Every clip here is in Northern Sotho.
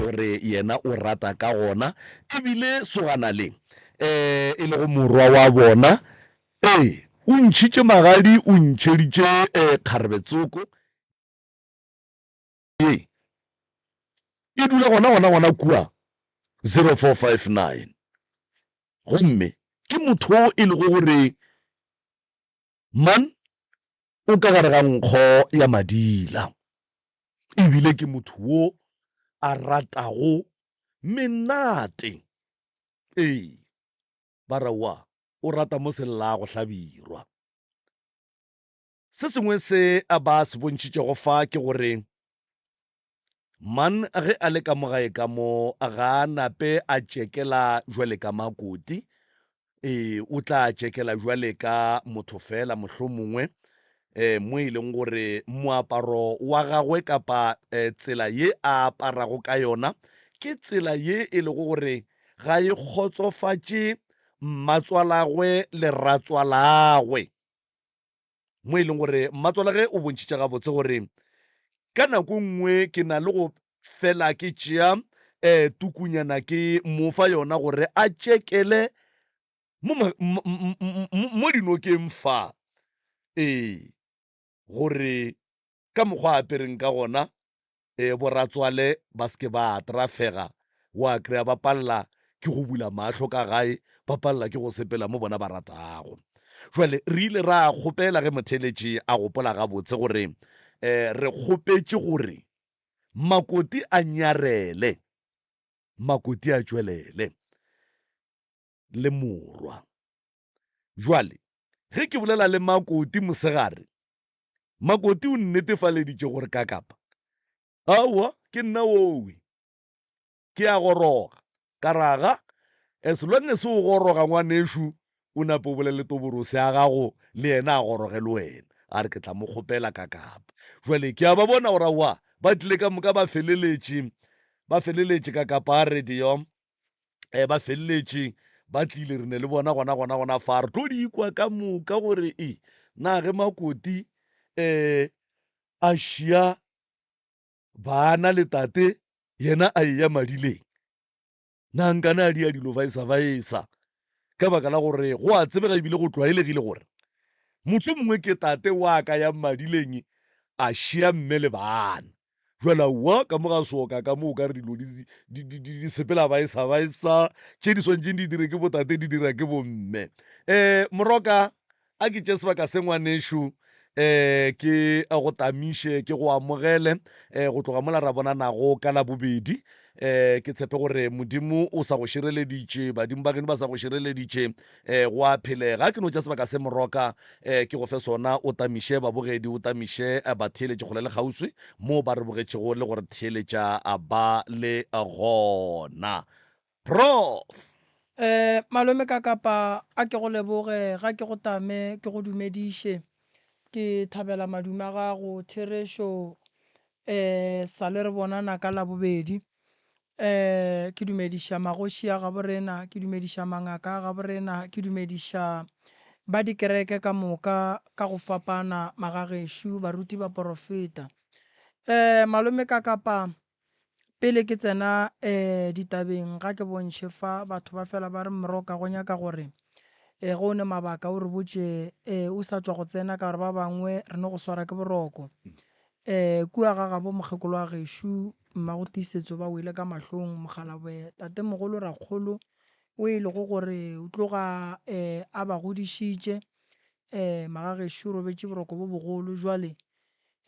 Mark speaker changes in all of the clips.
Speaker 1: gore yena o rata ka gona ebile sogana le eh e lego morwa wa bona ee o ntšhitše magadi o ntšheditše um eh, kgarebetsoko e e dula gona gona gona kua 0459 gomme ke motho e lego gore Man o ka gare ga nkgo ya madila e bile ke motho wo a ratago menate. Ee, ba re wa o rata mo se llago hlabirwa. Se sengwe se ba se bontšhitšego fa ke gore Man ge a le ka mo gae ka mo, ga a nape a tšekela jwale ka makoti. Ee, o tla tšekela jwale ka motho fela, mohlomongwe eh, mo e leng gore moaparo wa gagwe kapa eh, tsela ye a aparago ka yona ke tsela ye e lego gore ga e kgotsofatše mmatswalagwe le ratswalagwe. mo e leng gore mmatswalage o bontšhitše gabotse gore ka nako nngwe ke na le go fela ke tšea um eh, tukunyana ke mo fa yona gore a tšekele mo dinokeng fa ee gore ka mokgwa a apereng ka gona e bo ratswale ba se ke ba atrafega wa kry-a ba palela ke go bula mahlo ka gae ba palela ke go sepela mo bona ba ratago jwale re ile ra kgopela ge motheletši a gopola gabotse gore um re kgopetše gore makoti a nyarele makoti a tšwelele le morwa. Bjale, ge ke bolela le Makoti mosegare, Makoti o nnetefaleditše gore ka kapa. Aowa, ke nna wowe. Ke a goroga. Ka ra ga, As long as o goroga, ngwanešu, o nape o bolele Toborose ya gago, le yena a goroge le wena. A re, Ke tla mo kgopela ka kapa. Bjale, ke a ba bona gore aowa, ba tlile ka moka ba feleletše, ba feleletše ka kapa. A re, Diom, um ba feleletše ba tlile re ne le bona gona gona gona fa re tlo di ikwa ka moka gore e na ge makoti um a šia bana le tate yena a eya madileng na nkane a di ya dilo vaesa vaesa ka baka la gore go a tsebega ebile go tlwaelegile gore motlho mongwe ke tate wa ka ya madileng a šia mme le bana Bjale aowa, ka mo ga sooka ka mo o ka re dilo di, di, di, di, di sepela baesa baesa, tše di swantšeng di dire ke botate di dira ke bomme. Um, moroka, a ke tše sebaka se ngwanešo, um, ke go tamiše, ke go amogele, um, go tloga mola ra bonanago ka Labobedi. Um, ke tshepe gore Modimo o sa go šireleditše, badimo ba geno ba sa go šireleditše, E, go a phele, ga ke no tša sebaka se moroka e, ke go fe sona, o tamiše babogedi, o tamiše e, batheeletši kgole le kgauswi moo ba re bogetšego le go re theeletša a ba le gona. Prof. E, malome Kakapa, a ke go leboge, ga ke go tame, ke go dumediše. Ke thabela madume a gago, Therešo. E, sa le re bonana ka Labobedi. Eh, ke dumediša magoši a gabo rena, ke dumediša mangaka a gabo rena, ke dumediša ba dikereke ka moka ka go fapana, magagešo, baruti ba porofeta. Eh, malome ka kapa, pele ke tsena eh ditabeng, ga ke bontšhe fa, batho ba fela ba re, Mroka, go nyaka gore, eh, ge o ne mabaka o re botše, eh, o sa tšwa go tsena, ka gore ba bangwe re no go swara ke boroko. Ee, kua ga gabo mokgekolo wa gešo, Mmago Tiisetso ba wele ka mahlong, mokgalabwe, tatemogolo Rakgolo, o e lego gore o tloga ee a ba godišitše, ee, magagešo o robetše boroko bo bogolo. Bjale,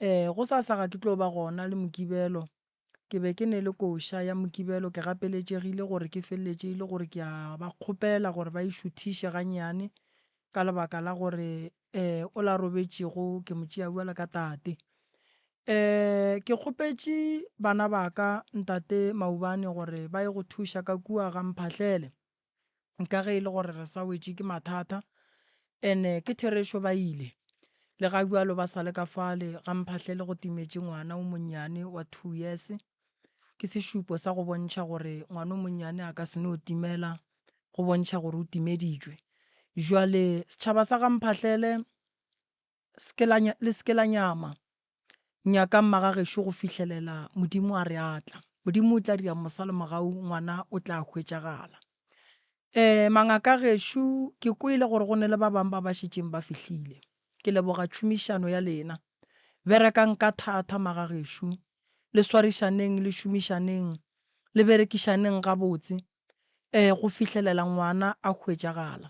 Speaker 1: ee, gosasa ga ke tlo ba gona le Mokibelo, Ke be ke ne le koša ya Mokibelo ke gapeletšegile gore ke feleletše e le gore ke a ba kgopela gore ba e šuthiše gannyane ka lebaka la gore um o la robetšego ke mo tšea bjalo ka tate. Um ke kgopetše bana ba ka ntate Maubane gore ba ye go thuša ka kua ga Mphahlele ka ge e le gore re sa wetše ke mathata, and-e ke therešo ba ile, le ga bjalo ba sa le ka fale ga mphahlele go timetše ngwana o monnyane wa two years, ke sešupo sa go bontšha gore ngwana o monnyane a ka se no timela go bontšha gore o timeditšwe. Bjale setšhaba sa ga mphahlele se ke la, le se ke la nyama. Nyakang magagešo go fihlelela Modimo a re a tla. Modimo o tla dira mosalo mogau, ngwana o tla hwetšagala. Um, mangaka a gešo, ke kwele gore go ne le ba bang ba ba šetšeng ba fihlile. Ke leboga tšhomišano ya lena. Berekang ka thata, magagešo. Le swarišaneng, le šomišaneng, le berekišaneng gabotse, um, go fihlelela ngwana a hwetšagala.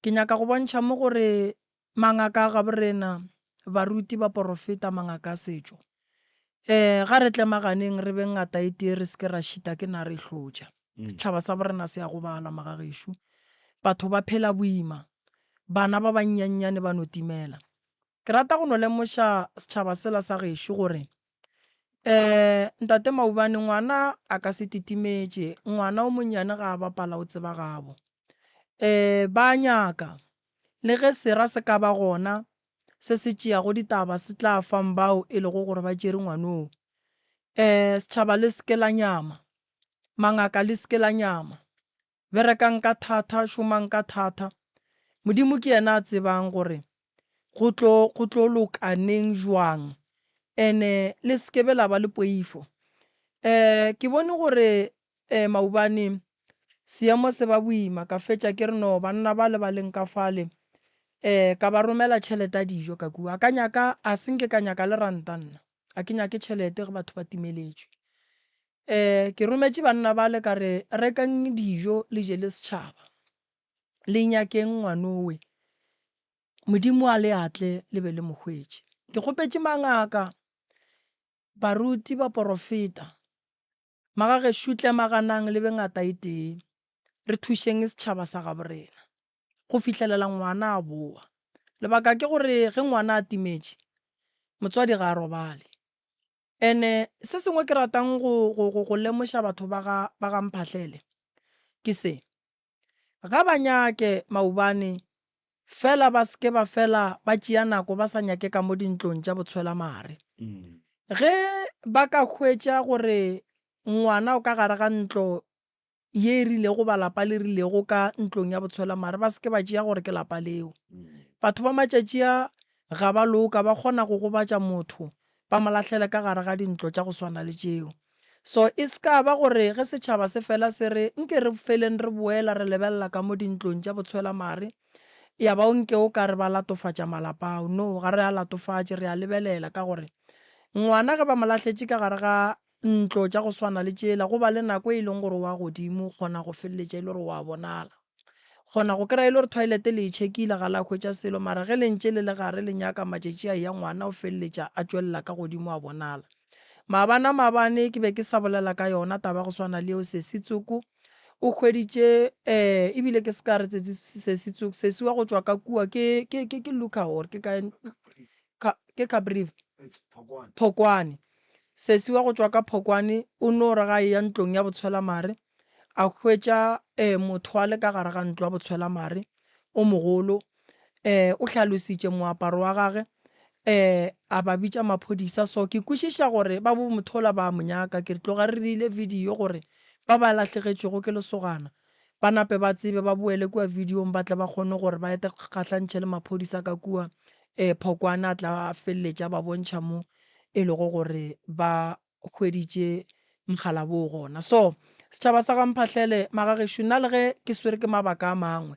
Speaker 1: Ke nyaka go bontšha mo gore Mangaka a gaborena, baruti, baporofeta, mangaka a setšo. Ee, ga re tlemaganeng re beng ngata e tee re se ke ra šita ke nare e hlotša. Setšhaba sa borena se a gobala, magagešo. Batho ba phela boima. Bana ba bannyannyane ba no timela. Ke rata go no lemoša setšhaba sela sa gešo gore Eh, ntate Maubane, ngwana a ka se titimetše, ngwana o monnyane ga a bapala o tseba gabo. Eh, ba a nyaka. Le ge sera se ka ba gona se se tšeago ditaba se tla fang bao e lego gore ba tšere ngwanoo. Eh, setšhaba le se ke la nyama. Mangaka le se ke la nyama. Berekang ka thata, šomang ka thata. Modimo ke yena a tsebang gore go tlo, go tlo loka neng, bjang. And-e le se ke be la ba le poifo. Um, ke bone gore um maobane seemo se ba boima, ka fetša ke re, No, banna bale ba leng ka fale. Um, ka ba romela tšhelete ya dijo, ka kua. A ka nyaka, a se nke ka nyaka le ranta nna. A ke nyake tšhelete ge batho ba timeletšwe. Ee, ke rometše banna bale ka re, Rekang dijo le je le setšhaba. Le nyakeng ngwanowe. Modimo a le atle le be le mo hwetše. Ke kgopetše mangaka, baruti, baporofeta, magagešo tle maganang le be ngata e tee, re thušeng setšhaba sa gabo rena go fihlelela ngwana a bowa. Lebaka ke gore ge ngwana a timetše, motswadi ga a robale. And-e se sengwe ke ratang go, go, go, go lemoša batho ba ga, ba ga Mphahlele ke se, ga ba nyake maubane fela ba seke ba fela ba tšea nako ba sa nyake ka mo dintlong tša botshwelamare. Ge ba ka hwetša gore ngwana o ka gare ga ntlo ye e rilego ba lapa le rilego ka ntlong ya botshwela mare ba seke ba tšea gore ke lapa leo batho ba matšatši a ga ba loka ba kgona go gobatša motho ba mo lahlele ka gare ga dintlo tša go swana le tšeo so e se ka ba gore ge setšhaba se fela se re nke re feleng re boela re lebelela ka mo dintlong tša botshwela mare ya ba o nke o ka re ba latofatša malapa ao no ga re a latofatše re a lebelela ka gore ngwana ge ba mo lahletše ka gare ga Ntlo tša go swana le tšela, go ba le nako e leng gore wa godimo, o kgona go feleletša e le gore wa bonala. O kgona go kry-a e le gore toilet le e check-ile ga la hwetša selo, mara ge le ntše le le gare le nyaka matšatši a eya ngwana o feleletša a tšwelela ka godimo a bonala. Maabana maabane ke be ke sa bolela ka yona taba ya go swana le eo, Sesi Tsoko o hweditše um ebile ke se ka re Sesi Tsoko, Sesi wa go tšwa ka kua ke Luka or ke kae, ke Caprivi? Phokwane. Sesi wa go tšwa ka Phokwane o no re ga e ya ntlong ya botshwelamare, a hwetša um motho wa le ka gare ga ntlo ya botshwelamare o mogolo. Um o hlalositše moaparo wa gage, um a ba bitša maphodisa. So ke kwešiša gore ba bo mothola ba a mo nyaka. Ke re tloga re dirile video gore ba ba lahlegetšwego ke lesogana Ba nape ba tsebe, ba boele kua vidiong ba tle ba kgone gore ba ete kgahlantšhe le maphodisa ka kua, ee, Phokwane a tla a feleletša a ba bontšha mo e lego gore ba hweditše mogala woo gona. So, setšhaba sa ga Mphahlele, magagešo, nna le ge ke swere ke mabaka a mangwe,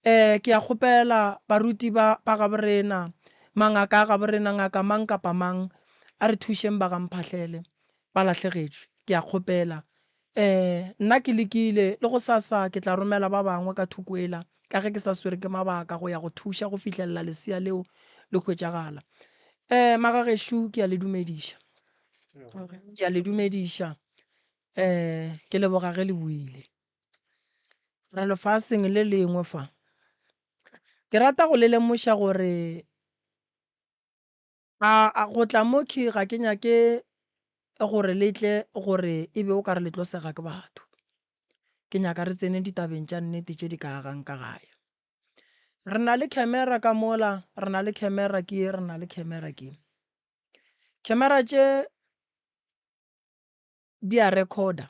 Speaker 1: ee, ke a kgopela baruti ba, ba gabo rena, mangaka a gabo rena, ngaka mang kapa mang, a re thušeng ba ga Mphahlele, ba lahlegetšwe, ke a kgopela, Ee, nna ke lekile, le gosasa ke tla romela ba bangwe ka thoko ela, ka ge ke sa swere ke mabaka, go ya go thuša go fihlelela lesea leo le hwetšagala. Ee, magagešo, ke a le dumediša. Ke a le dumediša. Ee, ke leboga ge le buile. Re lefaseng le lengwe fa. Ke rata go le lemoša gore A, a, go tla mo khy ga ke nyake gore le tle gore e be o ka re le tlo sega ke batho. Ke nyaka re tsene ditabeng tša nnete tše di ka agang ka gae. Re na le khemera ka mola, re na le khemera ke ye, re na le khemera ke. Khemera tše di a rekhoda.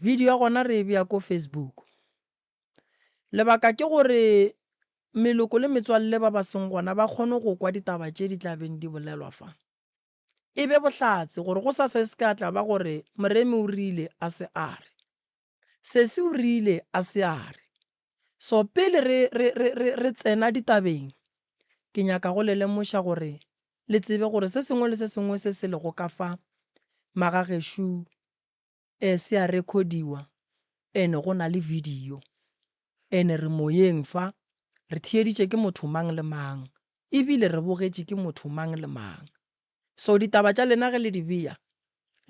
Speaker 1: Video ya gona re e bea ko Facebook. Lebaka ke gore meloko le metswalle ba ba seng gona ba kgone go kwa ditaba tše di tla beng di bolelwa fa. E be bohlatse gore go sa se se ka tla ba gore Moremi o rile a se a re. Sesi o rile a se a re. So pele re, re, re, re, re tsena ditabeng, ke nyaka go le lemoša gore le tsebe gore se sengwe le se sengwe se se lego ka fa magagešu E se ya rekhodiwa and go na le video. And re moyeng fa, re theeditše ke motho mang le mang ebile re bogetše ke motho mang le mang. So ditaba tša lena ge le di beya,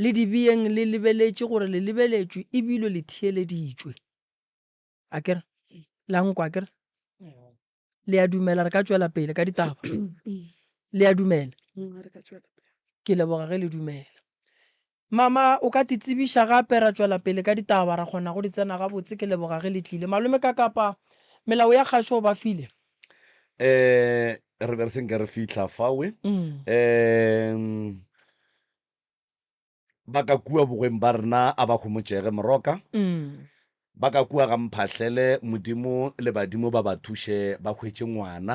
Speaker 1: le di beyeng le lebeletše gore le lebeletšwe ebile le theeleditšwe. a kere la nkwa kere le a dumela re ka tswela pele ka ditaba le a dumela ke leboga ge le dumela mama o ka ti tsebiša gape ra tswela pele ka ditaba ra kgona go di tsena gabotse ke leboga ge le tlile malome ka kapa melao ya kgašo ba file um re be re senke re fitlha fawe um Ba ka kua bogweng ba rena a ba homotšege moroka, ba ka kua ga mphahlele Modimo le badimo ba ba thuše ba hwetše ngwana.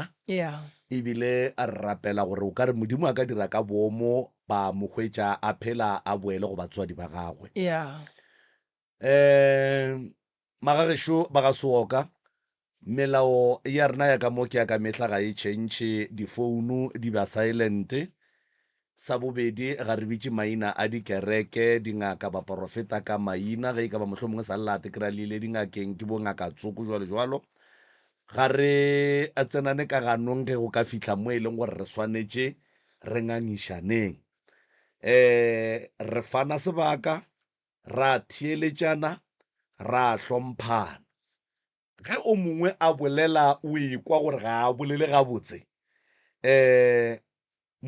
Speaker 1: E bile re rapela gore o ka re Modimo a ka dira ka boomo ba mo hwetša a phela a boele go batswadi ba gagwe. Um Magagešo ba ga Seoka, melao ya rena ya ka mo ke ya ka mehla ga e tšhentšhe, difounu di ba silent. Sa bobedi, ga re bitše maina a dikereke, dingaka, baporofeta ka maina, ge e ka ba mohlomongwe sa lela ate kry-a le ile dingakeng ke bo ngaka tsoko jwalo jwalo. Ga re tsenane ka ganong ge go ka fihla mo e leng gore re swanetše re ngangišaneng. Um re fana sebaka, ra theeletšana, ra hlomphana. Ge o mongwe a bolela o ekwa gore ga a bolele gabotse, um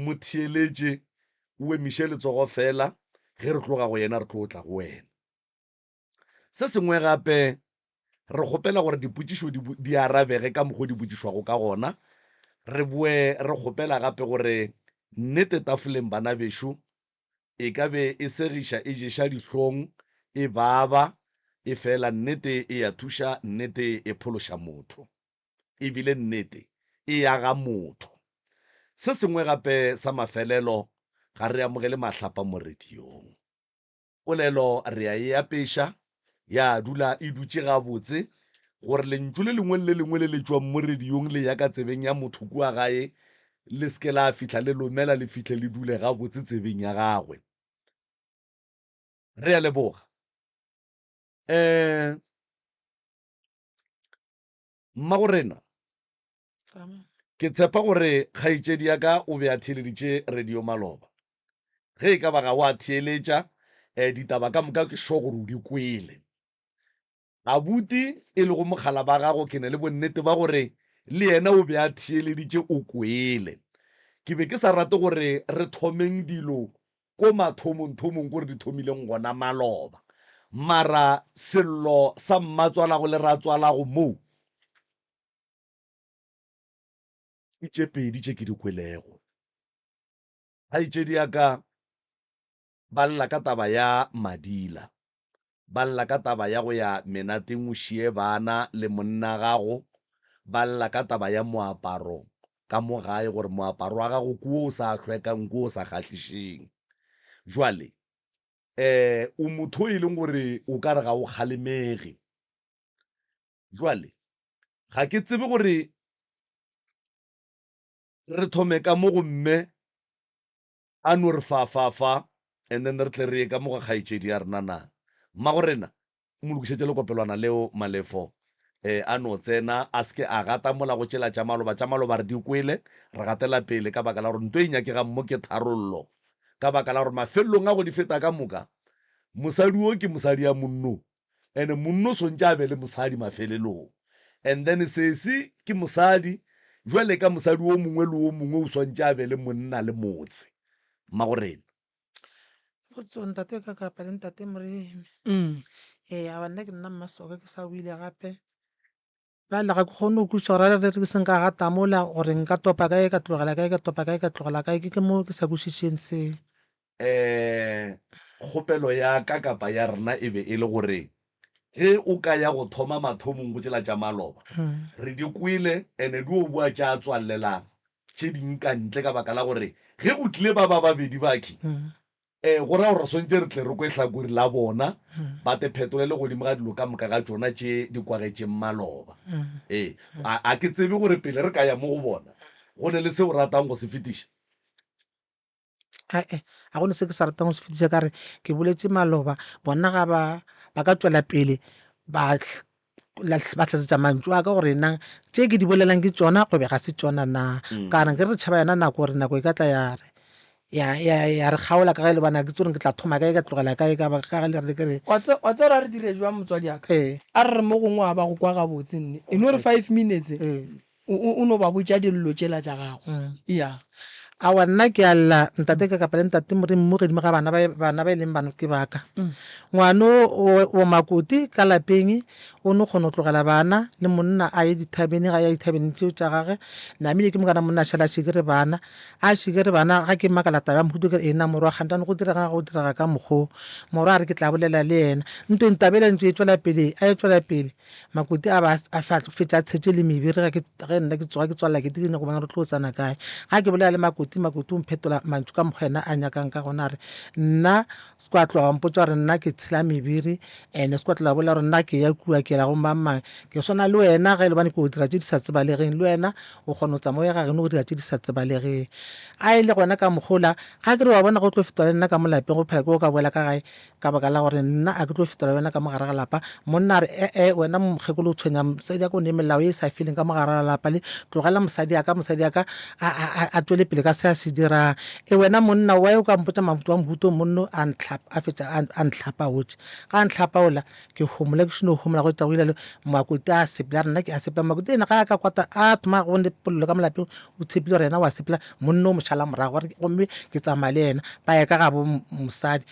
Speaker 1: mo theeletše, o emiše letsogo feela, ge re tloga go yena re tlo tla go wena. Se sengwe gape, re kgopela gore dipotšišo di, di arabege ka mokgwa o di botšišwago ka gona. Re boe re kgopela gape gore nnete tafoleng, bana bešo, e ka be e segiša e ješa dihlong, e baba, efela nnete e a thuša, nnete e phološa motho. E bile nnete e aga motho. Se sengwe gape sa mafelelo, ga re amogele mahlapa mo radiong. Polelo re a e apeša, ya dula e dutše gabotse, gore lentšu le lengwe le le lengwe le le tšwang mo rediong le ya ka tsebeng ya motho kua gae le se ke la fihla le lomela, le fihle le dule gabotse tsebeng ya gagwe. Re a leboga. Um Mmagorena, ke tshepa gore kgaetšedi ya ka o be a theeleditše radio maloba. Ge e ka ba ga o a theeletša, eh, ditaba ka moka ke sure gore o di kwele. Abuti, e lego mogala ba gago, ke na le bonnete ba gore le yena o be a theeleditše, o kwele. Ke be ke sa rate gore re thomeng dilo ko mathomongthomong ko re di thomileng gona maloba. Mara sello sa mmatswalago le ratswalago moo ke tše pedi tše ke di kwelego. Kgaetšedi ya ka ba lla ka taba ya Madila. Ba lla ka taba ya go ya menateng o šiye bana le monna gago. Ba lla ka taba ya moaparo ka mo gae gore moaparo wa gago ke wo o sa hlwekang, ke wo o sa kgahlišeng. Jwale um o motho o e leng gore o ka re ga o kgalemege. Jwale ga ke tsebe gore re thome ka mo go mme A no re fa, fa, fa, and then re tle re ye ka mo ga kgaetšedi ya rena na. Mmagorena, mo lokišetše lekopelwana leo, Malefo. E, a no tsena, a se ke a gata mola go tšela tša maloba. Tša maloba re di kwele, re gatela pele, ka baka la gore nto e nyakegang mo ke tharollo. Ka baka la gore mafelelong a go di feta ka moka, mosadi wo ke mosadi ya monno, and monna o swantše a be le mosadi mafelelong and then sesi ke mosadi jwale ka mosadi o mongwe le o mongwe o swantše a be le monna le motse mmagorena. Potso, Ntate ka kapa le Ntate Moremi? Ee, aba nna ke nna Mmasoka ke sa o ile gape. Bjale ga ke kgone go kwešiša gore a re ke seng ka gata mola, gore nka topa kae ka tlogela kae, ka topa kae ka tlogela kae, ke ke mo ke sa kwešišeng se. Ee, kgopelo ya ka kapa ya rena e be e le gore ge o ka ya go thoma mathomong go tšela tša maloba. Re di kwele and-e di o boa tša tswalelang tše ding ka ntle ka baka la gore ge go tlile ba ba babedi bakhwi Ee, go raya gore re swanetše re tle re kwe hlakori la bona, ba te phetolele godimo ga dilo ka moka ga tšona tše di kwagetšeng maloba. Ee, a, a ke tsebe gore pele re ka ya mo go bona, go ne le se o ratang go se fetiša. Ae, ga go ne se ke sa ratang go se fetiša, ka re, Ke boletše maloba, bona ga ba, ba ka tšwela pele ba ba tlatsetsa mantšu a ka gore na tše ke di bolelang ke tsona go be ga se tsona na mm. kana ke re re tšhaba yona nako gore nako e ka tla ya re ya ya ya re kgaola ka ge le bana ke tsore ke tla thoma kae ka tlogela kae ka ba ka le re ke re wa tse ra re dire jwa motswadi aka ee. a re mo gongwe a ba go kwa gabotse nne e no re 5 minutes ee. O, o no ba botša dillo tšela tša gago. Eya. Aowa, nna ke a lla, Ntate ka kapa le Ntate Morimo godimo ga bana ba, bana ba e leng bano ke ba ka. Ngwano o, o makoti ka lapeng, o no kgona go tlogela bana le monna a ye dithabeneng, a ya dithabeneng tšeo tša gage. Namile ke mokana monna a šala a šikere bana, a šikere bana. Ga ke makala taba ya mohuto, ke re, Eena morwa, kgantano go direga, go direga ka mokgoo. Morwa a re, Ke tla bolela le yena. Ntweng taba yela e ntše e tšwela pele, a e tšwela pele. Makoti a ba a fa tlo fetša tshetše le mebiri ga ke ge nna ke tsoga ke tswalela ke dikene go bona re tlo tsana kae ga ke bolela le makoti makoti o mphetola mantšu ka mokgwa ena a nyakang ka gona re nna se kwa tloga wa mpotsa gore nna ke tshela mebiri ene se kwa tloga bolela gore nna ke ya kua ke la go mang mang ke swana le wena ge e le bane ke o dira tše di sa tsebalegeng le wena o kgona go tsamaya ga geno go dira tše di sa tsebalegeng a e le gona ka mokgola ga ke re wa bona go tlo fetola le nna ka mo lapeng go phela ke go ka boela ka gae ka baka la gore nna a ke tlo fetela wena ka mo gare ga lapa monna a re ee wena mokgekolo o tshwenya mosadi ako ne melao e sa feleng ka mo gare ga lapa le tlogela mosadi aka mosadi aka a tswele pele ka se a se dirang e wena monna wa o ka mpotsa mabuto wa mobuto monno a ntlhapa a fetsa a ntlhapa gotse ga a ntlhapa ola ke homola ke šeno homola go tšago ilalo makuta a sepela rena ke a sepela makuta ena ga a ka kwata a thoma go ne polelo ka molapeng o tshepile gore yena wa sepela monna o mošala morago gore gomme ke tsamaya le yena ba ya ka ga bo mosadi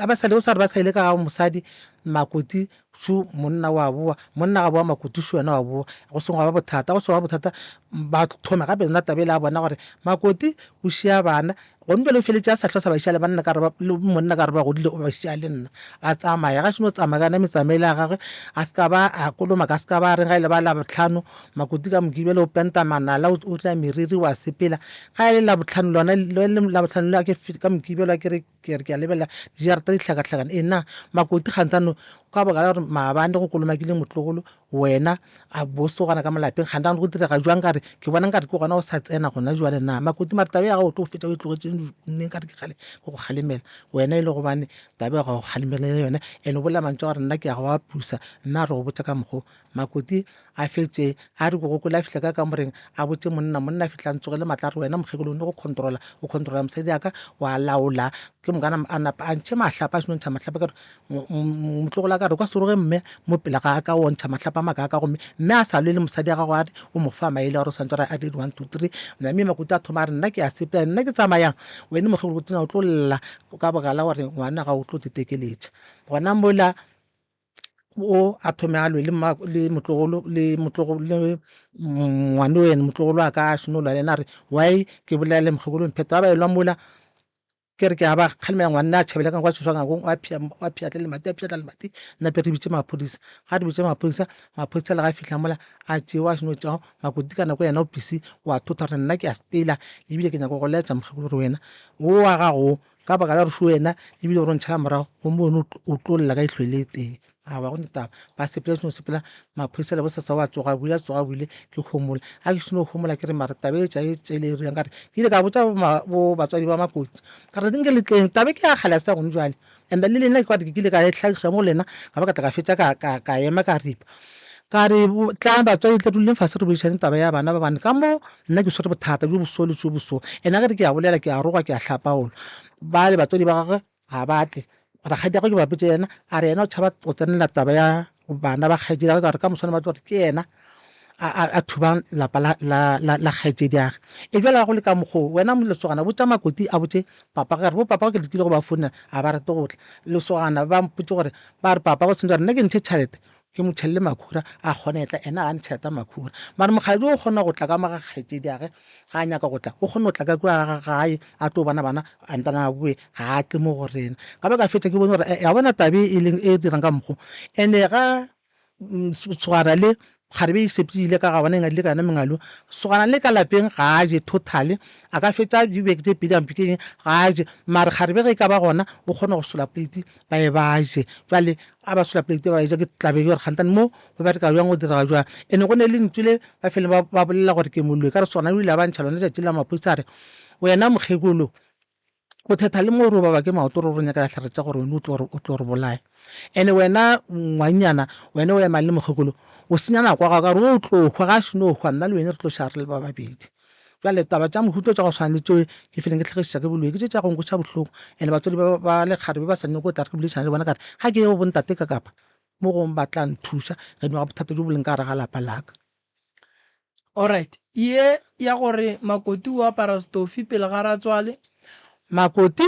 Speaker 1: a ba sale o sa re ba sa ile ka ga mosadi makuti shu monna wa boa monna ga boa makuti shu wena wa boa go sengwe wa ba bothata go sengwe wa bothata ba thoma gape yona tabele a bona gore makoti o šia bana Gomme bjale o feletše a sa hlosa bašale ba nna ka re le monna ka re ba godile o ba šea le nna. A tsamaya, ga šeno tsamaya ka yona metsamaele ya gagwe, a se ka ba a koloma ka se ka ba a reng ga e le ba Labohlano, makoti ka moke bjale o penta manala, o tla meriri, wa sepela. Ga e le Labohlano lona, le le Labohlano le a ke ka moke bjale a ke re ke re ke a lebelela dijarata di hlakahlakana. Ena makoti kgantsano ka baka la gore maabane go kolomakile motlogolo, Wena, a boso gona ka molapeng kgantang go direga jwang ka re ke bona nkare ke gona o sa tsena gona jwale na makoti mare taba ya gago o tlo go fetša o e tlogetšeng nne nkare ke kgale ke go kgalemela wena e le gobane taba ya gago kgalemela le yone and o bolela mantšu a gore nna ke ya go a pusa nna re go botša ka mokgo makoti a fetše a re bogokole a fihla ka kamoreng a botše monna monna a fihla a ntsogele matla a re wena mokgekolo o ne go controla o controla mosadi ya ka wa laola ke mokana a napa a ntšhe mahlapa a senontšha mahlapa ka re motlogola ka re kwa seroge mme mo pele ga ka o ntšha matlapa maka ka gomme mme a sa lwe le mosadi ya gago a re o mo fa maele a gore santse a dire one two three mme makuta a thoma a re nna ke a sepela nna ke tsamayang wene mokgebo botsena o tlo lla ka bogala gore ngwana ga o tlo tetekeletša gona mola o a thome a lwe le motlogolo le motlogolo le ngwane wena motlogolo a ka a šone o lwa le ena a re why ke bolela le mokgekolo mphetho ba ba elwa mola Ke re ke a ba kgalemela ngwanna a tšhabela ka kwa tshoswangakong wa phia wa phiatla le mati a phiatla le mati nna pe re bitse maphodisa ga re bitse maphodisa maphodisa le ga fihla mola a tšeo a seno tšao makoti ka nako yena o pisi wa thotha gore nna ke a sepela lebile ke nyako go laetsa mokgekolo gore wena o wa gago ka baka la gore se wena lebile gore o ntšhala morago gomme wena o tlo lla ka itlhwele tee Aowa go ne taba ba sepela seno sepela maphodisa le bosasa wa tsoga buile a tsoga buile ke homola a ke seno homola ke re mara taba e tša e tša ile e reng ka re ke ile ka botsa bo batswadi ba makoti ka re nke le tleng taba ke ya kgale sa gone jwale and le lena ke ke ile ka e tlhagiša mo lena ka ba ka tla ka fetsa ka ka ka ema ka ripa ka re tlang batswadi tle duleng fase re boledišane taba ya bana ba bane ka mo nna ke swere bothata jo boso le jo boso ena ke re ke ya bolela ke ya roga ke ya hlapaola ba le batswadi ba gagwe Ga ba tle. Rakgadiagwe ke ba botše yena, a re yena o tšhaba go tsenela taba ya bana ba kgaetšediagwe ka gore ka moswane ba tlo gore ke yena a thubang lapa la kgaetšediage. E bjale ga go le ka mokgoo, wena lesogana botša Makoti a botše papagwe a re, Bopapagwe ke lekile go ba founela ga ba rate go tla. Lesogana ba mpotše gore ba re papagwe o sentše gore nna ke ntšhe tšhalete ke mo tšhelele makhura a kgone etla ena ga ntšheta makhura mara mokgadi o kgona go tla ka maga kgaetšedi age ga a nyaka go tla o kgone go tla ka kua ga gae a tlo bona bana a ntana a boe ga a tle mo go rena ka ba ka fetša ke bone gore eh, ya bona tabe e leng e dirang ka mokgo ene ga mm, tshwara le gare be isepile ka ga bona e ngadile ka yona mengalo sogana le ka lapeng ga a je totally a ka fetša dibeke tse pedi ampe ke eng ga a je mare gare be ge e ka ba gona o kgona go sola plate ba e ba je jale A ba sola pleite ba eja ke tlabe bjore kgantane mo go bereka bjang go diraga jwang. E ne go ne le lentsu le ba feleng ba ba bolela gore ke moloi ka re sona o ile a ba ntšha lone tšatši la maphodisa a re wena mokgekolo o thetha le mo re o baba ke maoto re o re nyaka dihlare tša gore wena o tlo o tlo re bolaya ene wena ngwanyana wena o emang le mokgekolo o senya nako ya gago ka gore o tlo hwa ga a šeno hwa nna le wena re tlo šara re le ba babedi. Bjale taba tša mohuta tša go swana le tšeo ke fileng ke tlhagišiša ke boloi ke tše tša go nkweša bohloko, ene batswadi ba ba lekgare be ba sa nyake go tla re ke boledišane le bona ka re ga ke ye go bontate ka kapa mo gongwe ba tla nthuša gadima ga bothata bjo bo leng ka gare ga lapa la ka. Alright, ye ya gore Makoti o apara stofi pele ga ratswale? Makoti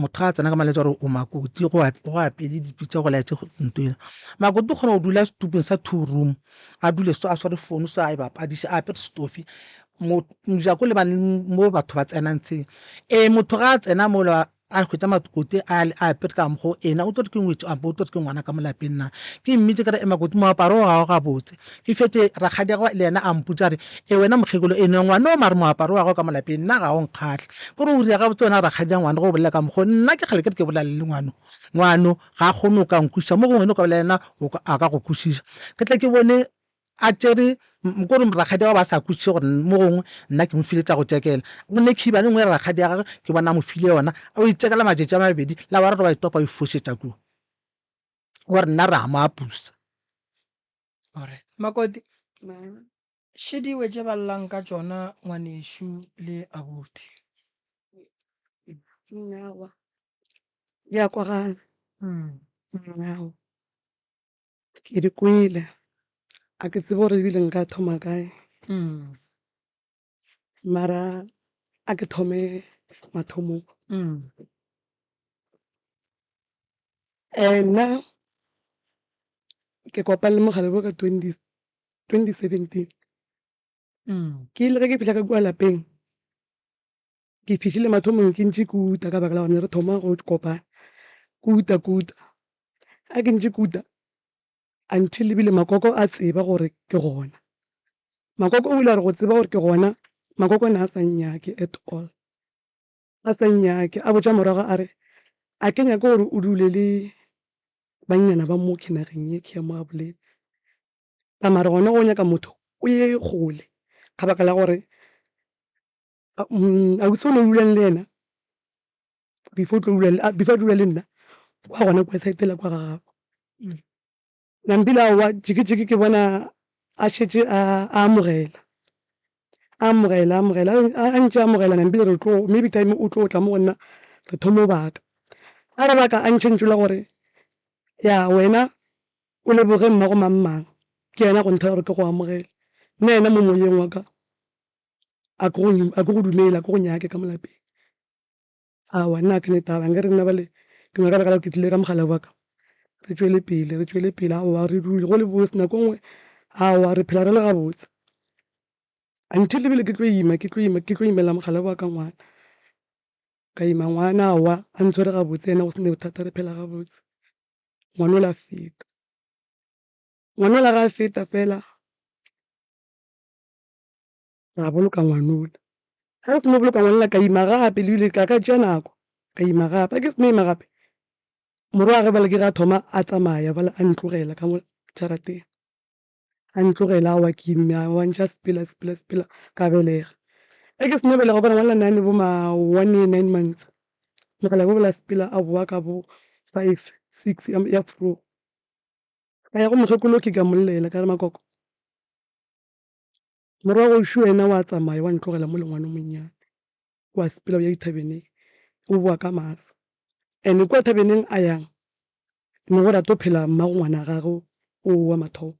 Speaker 1: motho ga a tsena ka malwetse gore o makoti go apele dipi tsa go laetse nto ena makoti o kgona go dula setupong sa two room a dule so a sware founu so a e bapadise a apere stofi mojako le mo batho ba tsenang tsheng ee motho ga a tsena mola a hwetsa makoti a apere ka mokgwa ena o tlo re ke ngwetsi ampo o tlo re ke ngwana ka mo lapeng na ke mmitse ka re makoti moaparo o gago gabotse E fetše rakgadiagwe le yena a mpotša a re, E wena mokgekolo eno ngwan'o mare moaparo wa gago ka mo lapeng nna ga o nkgahle. Ke re o ria gabotse wena rakgadi'a ngwano ge o bolela ka mokgwa wo? Nna ke kgale ke re ke bolelane le ngwano. Ngwano ga a kgone go ka nkwešiša mo gongwe wena o ka bolela le yena a ka go kwešiša. Ke tle ke bone a tšere ke gore rakgadiagwe a ba a sa kwešiše gore mo gongwe nna ke mo file tša go tšekela. Go ne khiba e nngwe ya rakgadiagwe ke bona a mo file yona a yo e tšekela matšatši a mabedi la boraro ba e topa a e fošetša kua gore nna re a mo apusa. Alright. Makoti, še diwe tše ba llang ka tšona ngwanešu le abuti. Nyawa. Di a kwagala. Nyawa. Ke di kwele. A ke tsebe gore ebile nka thoma kae. Mara a ke thome mathomong. Nna ke kopane le mogare bo ka twenty seventeen. Ke ile ge ke fihla ka kua lapeng, ke fihlile mathomong ke ntše ke uta ka baka la gore ne re thoma go kopana, ke uta ke uta. Ge ke ntše ke uta, Until e bile Makoko a tseba gore ke gona. Makoko o ile a re go tseba gore ke gona, Makoko ne a sa nnyake at all. A sa nnyake, a botša morago a re, A ke nyake gore o dule le bannyana ba mo kinageng ye ke ya mo Gaboleni. Ka mare gona go nyaka motho o ye kgole ka baka la gore a o sone dulang le ena before tlo dulang ah, before dula le nna kwa gona kwa side la kwa ga gago mm. nampila wa jikijiki ke bona a šetše a amogela amogela amogela a ntše amogela nampile re tlo maybe time o tlo tla mo go nna re thomo baka a re baka a ntšhentšo la gore ya wena o leboge mmago mang mang ke yena go nthela gore ke go amogele nna yena mo moyeng wa ka a ke go dumele a ke go nyake ka molapeng awa nna a ke ne taba nke re nna bale ke nyaka baka la ke tlile ka mogala wa ka re tšwele pele re tšwele pele awa re dule go le botse nako nngwe awa re phela re le gabotse until ebile ke tlo ima ke tlo ima ke tlo imela mogala wa ka ngwana ka ima ngwana awa a ntshwere gabotse ena go sene bothata re phela gabotse ngwana o la feta ngwana o la ga feta fela ra boloka ngwanola. Ga re seno boloka ngwanola, ka ima gape, lebile ka ka tšea nako, ka ima gape. Ga ke seno ima gape, morwagwe bjale ke ge a thoma a tsamaya bjale a ntlogela ka mo jarateng, a ntlogela a wa ke imme, a wa ntše a sepela, a sepela, a sepela, ka belega. Ge ke seno belega, wa bona ngwanola ne a ne bo ma one year, nine months, mogalabje o bjale a sepela a bowa ka bo five, six ya ya vroeg. Ka ya go mokgekolo Oki ka mmollela ka re, Makoko, Morago šo yena wa tsamaya, wa ntlogela mo le ngwana o monnyane. Wa sepela o ya dithabeneng, o boa ka maatla. And-e kua thabeneng a yang, ne go rata go phela mmago ngwana gagwe o wa mathomo,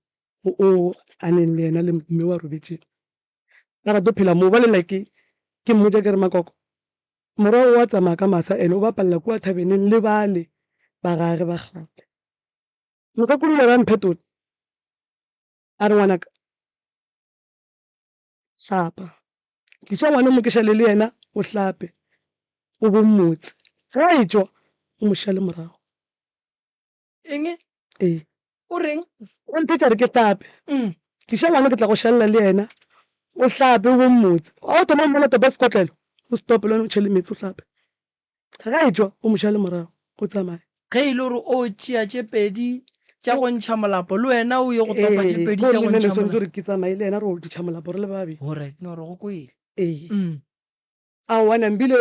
Speaker 1: o a neng le yena le mme wa robetšeng. Ba rata go phela moo. Bjale like ke mmotša ke re, Makoko, morago wa tsamaya ka masa and-e o bapalela kua thabeneng le bale ba gage ba kgale. Mokgekolo o ile a re, A mphetola? A re, Ngwanaka, hlapa. Tliša ngwana o mo ke šale le yena, o hlape, o bo mmotse. Ge a etšwa, o mo šale morago. Eng? Ee. O reng? O nthetša a re ke hlape. Tliša ngwana ke tla go šalela le yena, o hlape, o bo mmotse. Ga o thoma go mmona topa sekotlelo, o se tope le wena, o tšhele meetse, o hlape. Ge a etšwa, o mo šale morago, o tsamaye. Ge e le gore o tšea tše pedi tša go ntšha molapo, le wena o ye go topa tše pedi tša go ntšha molapo. Ee, gomme o swanetše gore ke tsamaye le yena re yo ntšha molapo re le ba babedi. Go right, no re go kwele. Ee. Aowa, Nambile,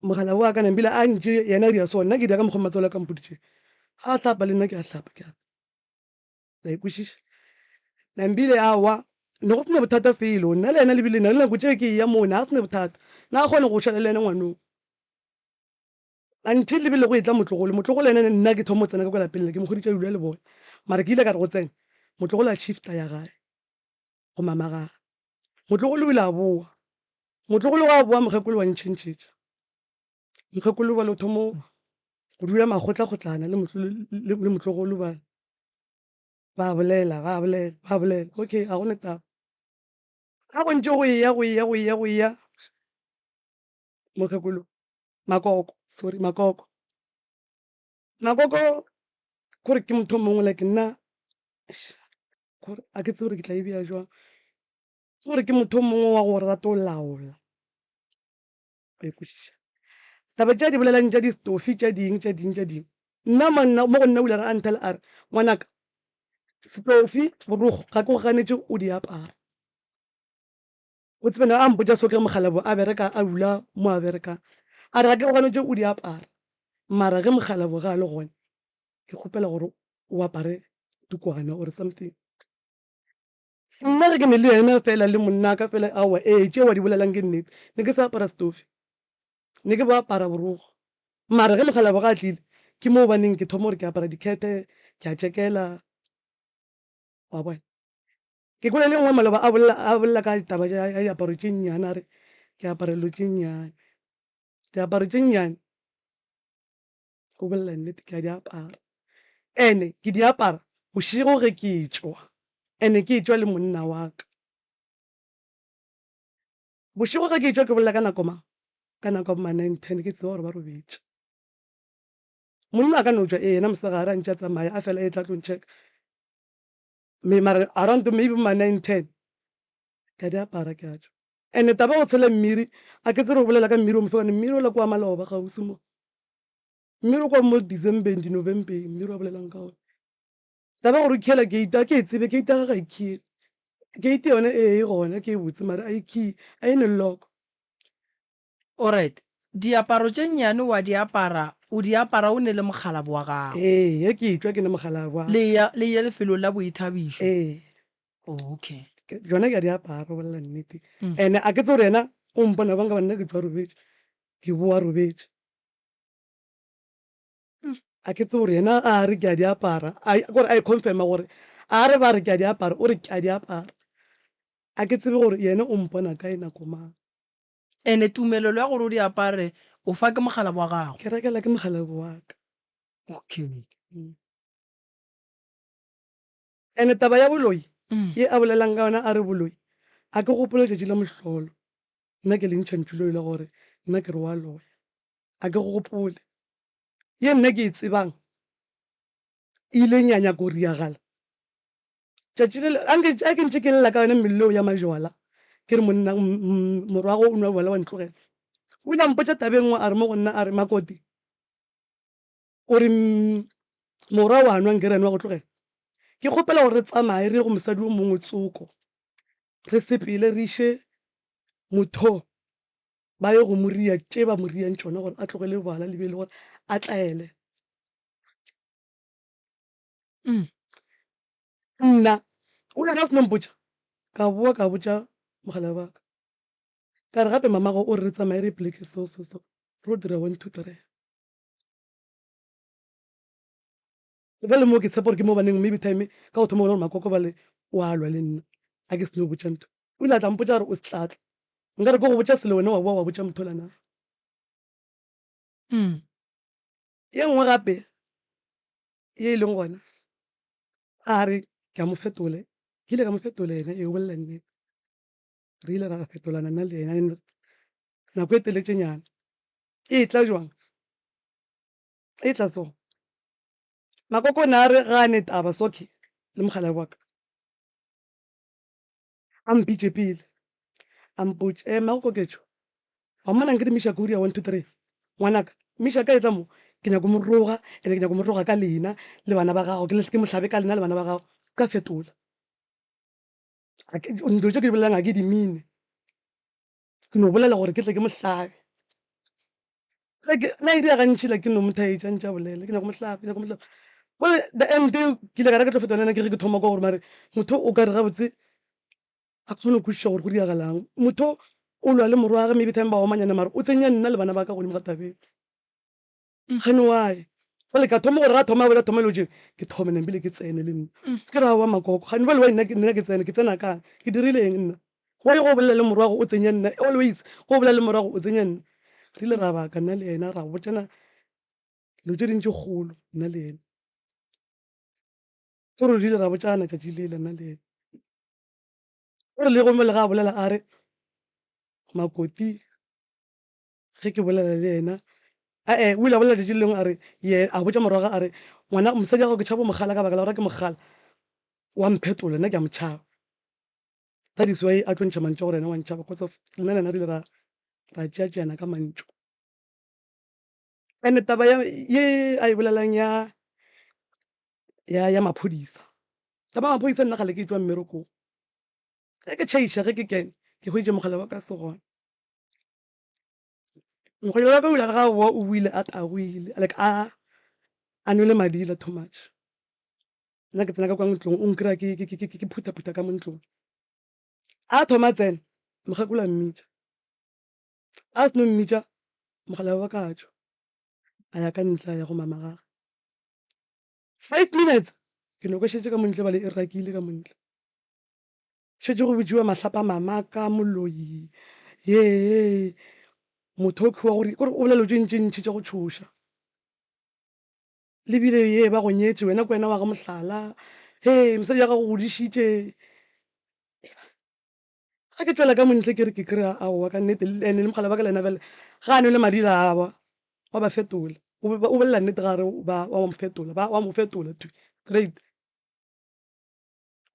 Speaker 1: mogala wa ka, Nambile a ntše yena a dira so, nna ke dira ka mokgwa matswalo a ka a mpoditšego. A hlapa le nna ke a hlapa, ke a. La ekwešiša? Nambile, Aowa, ne go se na bothata felo. Nna le yena le bile na le nako tše ke eya moo, na go se na bothata. Na a kgona go šala le yena ngwanong. Until le be le go etla Motlogolo. Motlogolo yena ne nna ke thomo tsena ka kwa lapeng le, ke mo kgoditša dula le bona. Mara ke ile ka re go tsena, Motlogolo a shifta ya gae go Mamagaa. Motlogolo o ile a boa. Motlogolo ga a boa, Mokgekolo wa ntšhentšhetša. mokgekolo bane o thomo go dula makgotlakgotlana le motlogolo ba ba bolela ba bolela ba bolela okay a gone taba ga go ntse go eya go eya go eya go eya mokgekolo makoko sorry makoko makoko kore ke motho mongwe like nna a ke tse gore ke tla e beya jwang gore ke motho mongwe wa go rata o laola wa ikwešiša taba tša di bolelang tša distofi tša ding tša ding tša ding nna manna mo go nna o ile a nthela a re ngwanaka stofi borogo ga ke go ganetše o di apara o tsebena a mpotša so ke mogalabo a bereka a dula mo a berekang a re ga ke go ganetše o di apara mara ge mogalabo ga a le gone ke kgopela gore o apare tukwana or something Nna ge ke ne le yena fela le monnaka fela, aowa, ee, tšeo a di bolelang ke nnete. Ne ke sa apara setufi. Ne ke bo apara borokgo. Mara ge mokgalabje a tlile, ke moo ba neng ke thoma gore ke apara dikhete, ke a tšekela. Wa bona? Ke kwele le nngwe maloba a bolela, a bolela ka taba ya diaparo tše nnyane, a re ke apara dilo tše nnyane. Diaparo tše nnyane. go bolela nnete ke a di apara and ke di apara bošego ge ke tšwa and ke tšwa le monna wa ka bošego ge ke tšwa ke bolela ka nako mang ka nako ma nine ten ke tseba gore ba robetše monna a ka no tšwa ee yena mosegare a ntše a tsamaya a fela e tla tlo ntšheka Mme mara around to maybe bo ma nine ten ka di apara ke a tšwa. And taba ya go tshela mmiri, a ke tsere o bolela ka mmiri o mosegwane, mmiri o la ke wa maloba gaufi mo. Mmiri o kwa mo December-eng, di-November-eng, mmiri wa bolelang ka ona. Taba ya gore o khiela gate, a ke e tsebe, gate ya ga ga e khiele. Gate yone ee e gona, ke e botse mara a e khiye, a e ne lock. Oryt, Diaparo tše nnyane wa di apara, o di apara o ne le mokgalabo wa gago? Ee, ge ke etšwa ke ne mokgalabo wa. Le eya, le eya lefelong la boithabišo? Ee. Oh, okay. Ke, tšona ke a di apara, o bolela nnete. And a ke tsebe gore yena o mpona bjang, goba nna ke tšwa robetše, ke bowa robetše. A ke tsebe gore yena a re ke a di apara, a, ke gore a e confirma gore a re ba re ke a di apara, o re ke a di apara. A ke tsebe gore yena o mpona kae, nako mang. Ene tumelelo ya gore o di apare o fa ke mokgalabo wa gago? Ke rekela ke mokgalabo wa ka. Okay. Ene taba ya boloi ye a bolelang ka yona a re boloi, a ke gopole letšatši la mohlolo nna ke lentšha ntšhuloi la gore nna ke re wa loya. A ke gopole. Ye nna ke e tsebang e ileng ya nyaka go riagala. Tšatši le anke a ke ntše ke lela ka yone melleo ya majwala ke re monna morwago o nwa bjwala wa ntlogela o ile a mpotša taba e nngwe a re mo go nna a re makoti o re morwa wa nwa ngerene wa go tlogela ke kgopela gore re tsamaye re ye go mosadi o mongwe tsoko re sepele re iše motho ba ye go moria tše ba moriang tšona gore a tlogele bjwala le be e le gore a tlaele mm. nna o ya ka seno mpotša ka boa ka botša mogala baka ka re gape mamago o re re tsamaye re pleke so so so ro dira one two three ba le moo ke tshepa gore ke mo baneng maybe time ka go thoma gona gore makoko ba le o a lwa le nna a ke seno botša ntho o ile a tla mpotša gore o setlatla nka re ko go botša selo wena wa boa wa botša motho lana mm. Ye nngwe gape ye e leng gona, a re ke a mo fetola, ke ile ka mo fetola yena, ee, o bolela nnete. Re ile ra fetolana nna le yena nako e teletšenyana. E tla jwang? E tla so. Makoko o ne a re gane taba, Socky le mokgalabje wa ka. A mpitše pele, a mpotš, Ema go koketšo. Wa mmona nke di Mishak Uria one two three? Ngwanaka, Mishak a etla mo, ke nyako mo roga, ene ke nyako mo roga ka lena le bana ba gago, ke ke mo hlabe ka lena le bana ba gago, ka fetola. Dilo tše ke di bolelang ga ke di mine. Ke no bolela gore ke tle ke mo hlabe. Na e dira gantši la ke no mo thaetša ntša bolela ke nyako mo hlabe, ke nyako mo hlabe. Gore the end ke ile ka reka tlo feta le yena ke re ke thoma kwa gore mare motho o ka re gabotse a kgone go kwešiša gore go diragalang. Motho o lwa le morwage maybe time ba omanyana mare o tsenya nna le bana ba ka godimo ga tabeng. Mokganni wa e. Bjale ka thoma gore ga thoma a bolela thoma lojeng ke thome nna mpile ke tsene le nna. Ke re aowa Makoko kganni bjale wa nna ke nna ke tsene ke tsena kae ke dirile eng nna. Wa ye go bolela le morwago o tsenya nna always go bolela le morwago o tsenya nna. Re ile ra baka nna le yena ra botšana dilo tše dintši kgolo nna le yena. Ke gore re ile ra botšana tšatši lela nna le yena. O re le gomme le ga a bolela a re Makoti. ge ke bolela le yena ae o ile a bolela letšatši le lengwe a re ye a botša morwaga a re ngwana mosadi ya gago ke tšhabo mogala ka baka la gore ke mogala wa mphetola nna ke a motšhaba that is why a tlo ntšha mantšu gore yena wa ntšhaba because of nna le yena re ile ra ra tšeatšeana ka mantšu and taba ye a e bolelang ya ya ya maphodisa taba ya maphodisa nna gale ke tswa mmerekong ge ke tšhaiša ge ke kene ke hweditše mogala wa ka se gona Mokgonyana wa ka o ile a re ga boa o buile a tagwile like a a nwele madila too much. Nna ke tsena ka kwa ntlong o nkry-a ke ke- ke- ke- ke phutha-phutha ka mo ntlong. A thoma a tsena, mokgekolo a mmitša. A seno mmitša, mogala wa ka a tšwa, a ya ka ntle a ya go mama gagwe. Five minutes ke nokošetše ka mo ntle ebale e rakile ka mo ntle. šetše go bitšiwa mahlapa mamaka moloi ye motho o kgiwa gore kore o bolela tše ntši ntši tša go tšhoša lebile ye ba go nyetse wena ke wena wa ga mohlala he mosadi ya gago godišitše ga ke tswela ka montle ke re ke kry-a aowa ka nnete ande le mogala ba ka lena fela ga a nwe le madila awa wa ba fetola o bolela nnete ga re wa mo fetola ba wa mo fetola great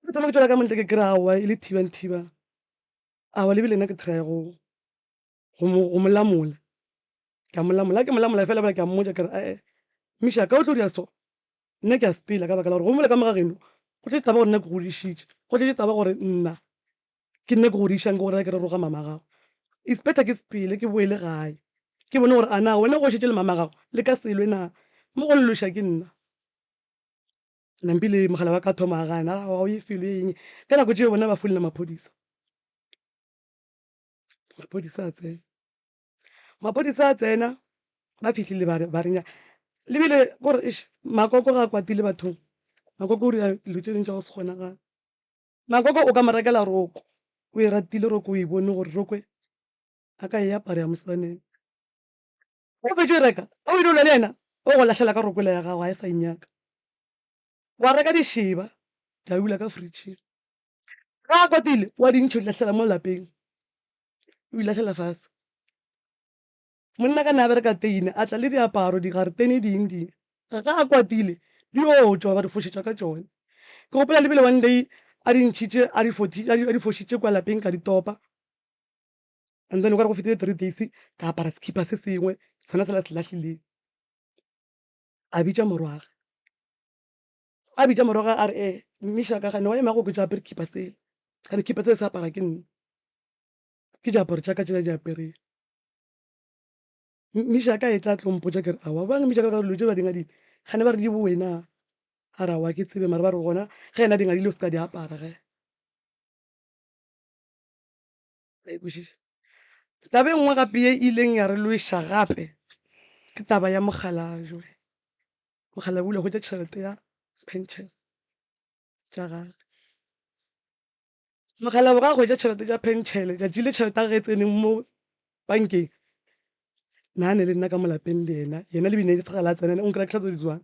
Speaker 1: ke thoma ke tswela ka montle ke kry awa e le thiba le thiba awa lebile nna ke try go go molamola ka molamola ke molamola fela bjale ke a mmotsa kere ae misha ka o tlo dira so nna ke a sepela ka baka la gore go mola ka moga geno go tletse taba gore nna ke godišitše go tletse taba gore nna ke nna ke godišang ke gore ke re roga mama gago it's better ke sepele ke boele gae ke bone gore ana wena go šetse le mama gago le ka selwe na mo go lelosha ke nna Nampi le mogala wa ka thoma a gana a ga o ye felo e eng ka nako tšeo bona ba folela maphodisa maphodisa a tsena maphodisa a tsena ba fihlile ba renya lebile gore eš makoko ga a kwatile bathong makoko o dira dilo tše dintšha go se kgonagala makoko o ka mo rekela roko o e ratile roko o e bone gore rokwe a ka e apara ya moswaneng Ge o fetše reka, o ile o lwa le yena, o go lahlela ka rokwela ya gago, ga e sa e nyaka. Wa reka dišeba, tša dula ka fritšhing. Ge a kwatile, wa di ntšha, o di lahlela mo lapeng, o di lahlela fase. Monna ka ne a bereka teine, a tla le diaparo, digaretene, diing diing. Ge a kwatile, di yo tšwa, ba di fošetša ka tšone. Ke gopola le bile one day a di ntšhitše, a di fošitše kua lapeng, ka di topa. and then o kare go fetile three days ka apara sekipa se sengwe sena sela se lahlileng a bitša morwaga a bitša morwaga a re e eh, mmiša ka gane wa emago ke jaapere kipa sele gane kipa sele se apara ke nne ke diaparo tša ka tšela di apereng mmiša ka e tla tlompo ja kere awa bang mmiša ka dilo tše ba dingadile gane ba re di bowena a re awa ke tsebe mare ba re gona ge ena dingadile o se ka di apara ge Ra e kwešiša? Taba e nngwe gape ye e ileng ya re lweša gape ke taba ya mogala Joe. Mogala o ile a hwetša tšhelete ya pension tša gagwe. Mogala o ga hwetša tšhelete tša pension, tšatši le tšhelete ya gage e tseneng mo bankeng, na ne le nna ka mo lapeng le yena, yena le bine le tsena, o nkela tšhelete tse di tswang.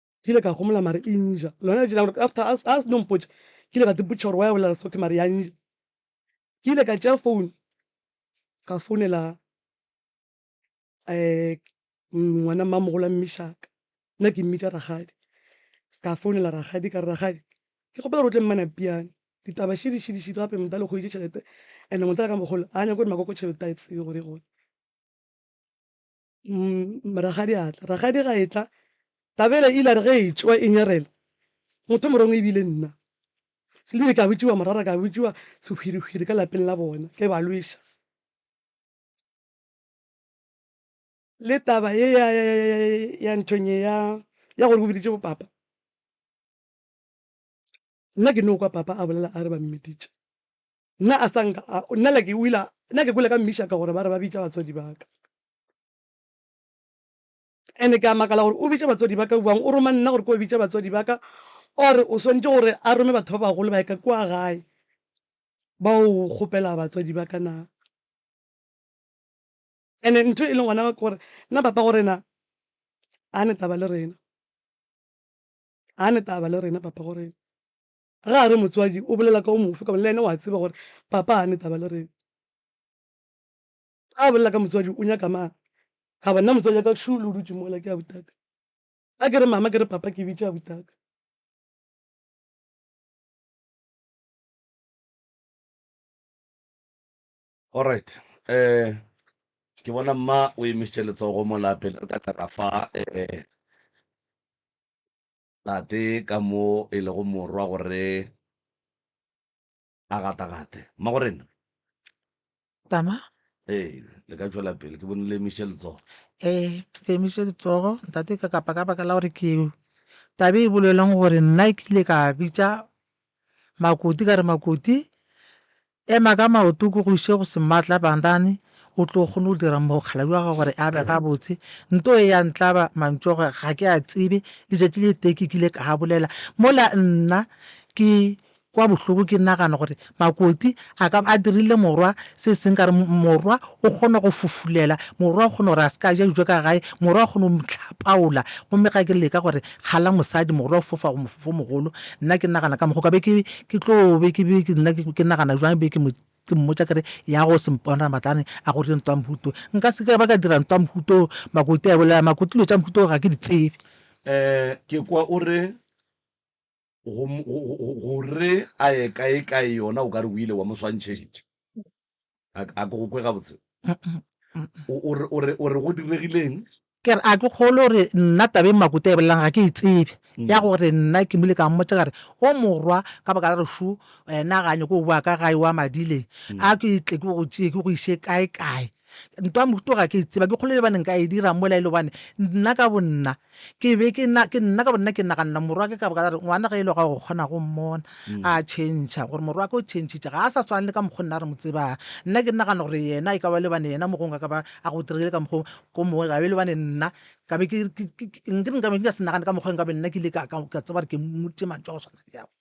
Speaker 1: ke ile ka gomola mare e nja lona letši la gore after a se no mpotša ke ile ka tsepotša gore wa ya bolela sotho mare ya nja ke ile ka tšea phone ka founela um ngwana mmamogolo a mmishaka nna ke mmitša ragadi ka founela ragadi ka re ragadi ke kgopela gore o tle mmana piane ditaba šidišidišidi gape motla le kgoditše tšhelete and-e motla ka mogolo a nyako gore makoko tšhelete a e tsebe gore e gone Rakgadi a tla. Rakgadi ga e tla, Tabela ile a re ge e tšwa e nyarela, motho o morongwe e bile nna. Ebile ka botšiwa morara, ka botšiwa sehwirihwiri ka lapeng la bona, ke ba lweša. Le taba ye ya nthong ye ya gore o biditše bo papa, Nna ke no kwa Papa a bolela a re ba mmiditše. Nna a sa nka a, nna like o ile, nna ke kwele ka mmishaka gore ba re ba bitša batswadi ba ka. Ene ke a makala gore o bitše batswadi ba ka bjang, o roma nna gore ke yo bitša batswadi ba ka, or o swantše gore a rome batho ba bagolo ba ye ka kua gae ba yo kgopela batswadi ba ka na. Ene ntho e leng gona ke gore nna Papa gore na a ne taba le rena. ga ne taba le rena papa gore ga a re motswadi o bolela ka o mofe ka le ene wa tseba gore papa ga ne taba le rena ga a bolela ka motswadi o nyaka mang ga bona motswadi ka shulu o dutse mola ke a butaka a ke re mama ke re papa ke bitša butaka Alright um ke bona mma o emišitše letsogo mola pele re ka tla ra fa um tate ka mo e lego morwa gore a gatagate mma gore nna tama ee le ka tšwela pele ke bone le emišitše letsogo ee ke emiše letsogo ntate ka kapa ka baka la gore ke tabe e boleleng gore nna ke ile ka bitša makoti ka re makoti Ema ka maoto o ke go ise go Sematla Bandane, o tlo kgone go dira mokgalabje wa gago gore a be gabotse. Nto e ya ntlaba mantšu a gore ga ke a tsebe. Letšatši le tee ke kile ka a bolela mola nna ke kwa bohloko ke nagana gore Makoti a ka ba a dirile morwa se seng ka gore morwa o kgona go fofulela, morwa o kgona gore a se ka a ja dijo ka gae, morwa o kgona go mo hlapaola. Gomme ga ke leka gore Kgala mosadi, mogolo wa go fofa go mofofo o mogolo. Nna ke nagana ka mokgo ka be ke, ke tlo be ke be ke nna ke nagana jwang be ke mo ke mmotša ke re ya go sempona matlane a go re ntwa mhuto nka se ka ba ka dira ntwa mhuto makoti a bolela makoti dilo tša mhuto ga ke di tsebe. Eh, ke kwa o re. Go, go, go, go, go re a ye kae kae yona o ka re o ile wa mo swantšhetša. A, a ke go kwe gabotse? O, o, re, o, re, o re go diregileng? Ke re a ke kgole gore nna taba e Makuta e bolelang ga ke e tsebe, ya gore nna ke mo ile ka mmotša ka re o morwa ka baka la gore šo wena ga a nyake go boa ka gae o a madileng, a ke tle ke go tšee ke go iše kae kae. ntwa mohuto ga ke e tseba ke kgolo le baneng ka e dira mola e le gobane nna ka bonna ke be ke nna ka bonna ke naganela morwa ke ka boka re ngwana ge e le ga go kgona go mmona mm. a changea gore morwa ke o changitše ga a sa swana le ka mokgwa nna re mo tsebang nna ke nagana gore yena e ka ba le bane yena mogong a ka ba a go diregile ka mokgwa ko mongwe gabe le bane nna ka be ke nka be ke ka se nagane ka mokgwa nka be nna ke ile ka tseba gore ke mmuti mantso a go tshwana le yago